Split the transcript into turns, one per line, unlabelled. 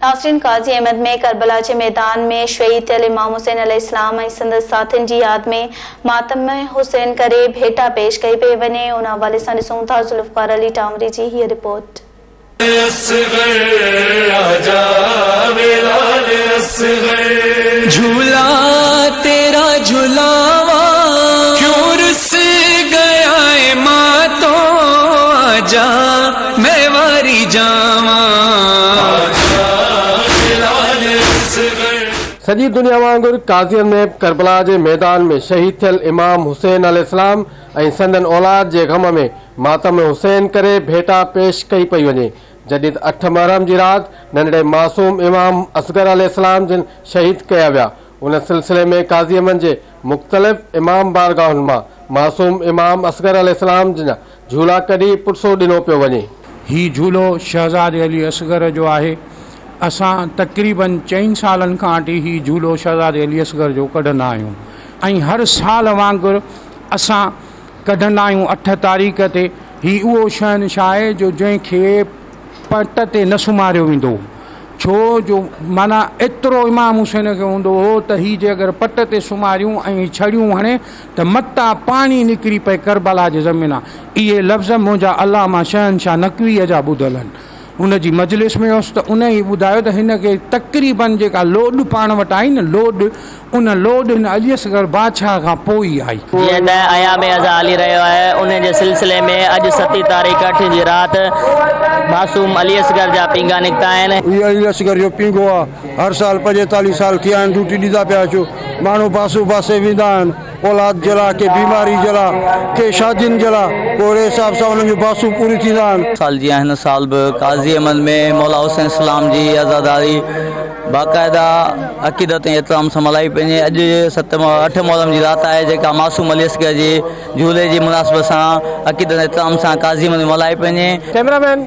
ناصرين Qazi Ahmed ۾ Karbala جي ميدان ۾ شهيد ٿيل امام حسين عليه السلام ۽ سندس ساٿين جي ياد ۾ ماتم حسين ڪري ڀيٽا پيش ڪئي پئي وڃي ان حوالي سان ڏسون ٿا ذوالفقار علي ٽانوري جي هيء رپورٽ.
جھولا تيرا جھلاواں کيون رس گيا اي ماں تون آجا. مئي
واري جانوان. سڄي دنيا وانگر قاضين ۾ به ڪربلا جي ميدان ۾ شهيد ٿيل امام حسين عليه السلام ۽ سندن اولاد جي غم ۾ ماتم حسين ڪري ڀيٽا پيش ڪئي پئي وڃي جڏھن اٺ محرم جي رات ننڍڙي معصوم امام اصغر عليه السلام جن شهيد ڪيا ويا ان سلسلي ۾ قاضيمن جي مختلف امام بارگاهن مان معصوم امام اصغر عليه السلام جن جھولا ڪڍي پٽسو ڏنو پيو وڃي. هي جھولو
شهزادي علي اصغر جو آهي. اسان تقريباً چئن سالن کان اٽي هي جھولو شهزادي علي اصغر جو ڪڍندا آهيون ۽ هر سال وانگر اسان ڪڍندا آهيون اٺ تاريخ تي هي اهو شهنشاهه آهي جو جنهن کي پٽ تي نه سمهاريو ويندو هو ڇو جو معنيٰ ايترو امام حسين کي هوندو هو ته هي جي اگر پٽ تي سمهاريون ۽ ڇڙيون هڻي ته متان پاڻي نڪري پئي ڪربلا جي زمينان اهي لفظ منهنجا علامه شهنشاه نقويء جا ٻڌل آهن. ان جي مجلس ۾ هوس ته انهيء ٻڌايو ته هن کي تقريباً جيڪا لوڏ پاڻ وٽ آئي نه لوڏ ان لوڏ هن علي اصغر بادشاهه کان پوء ئي آئي. جيئن ته ايام
ازهاء هلي رهيو آهي انهيء جي سلسلي ۾ اڄ ستين تاريخ اٺين جي رات معصوم علي اصغر جا پينگها نڪتا آهن. هي علي اصغر جو
پينگهو آهي. هر سال پنجيتاليهه سال ٿيا آهن ڊيوٽي ڏيندا پيا اچو ماڻهو باسي وباسي ويندا آهن اولاد جي لاء ڪي بيماري جي لاء ڪي شادين جي لاء پوء اهڙي حساب سان انهن جون باسون پوريون ٿيندا آهن. سال جيان هن سال به
قاضي احمد ۾ مولا حسين اسلام جي عزاداري باقاعده عقيدت ۽ احترام سان ملهائي پنهنجي اڄ ست اٺ محرم جي رات آهي جيڪا معصوم علي اصغر جي جهولي جي مناسبت سان عقيدت ۽ احترام سان قاضي احمد ۾ ملهائي پنهنجي ڪيمرا مين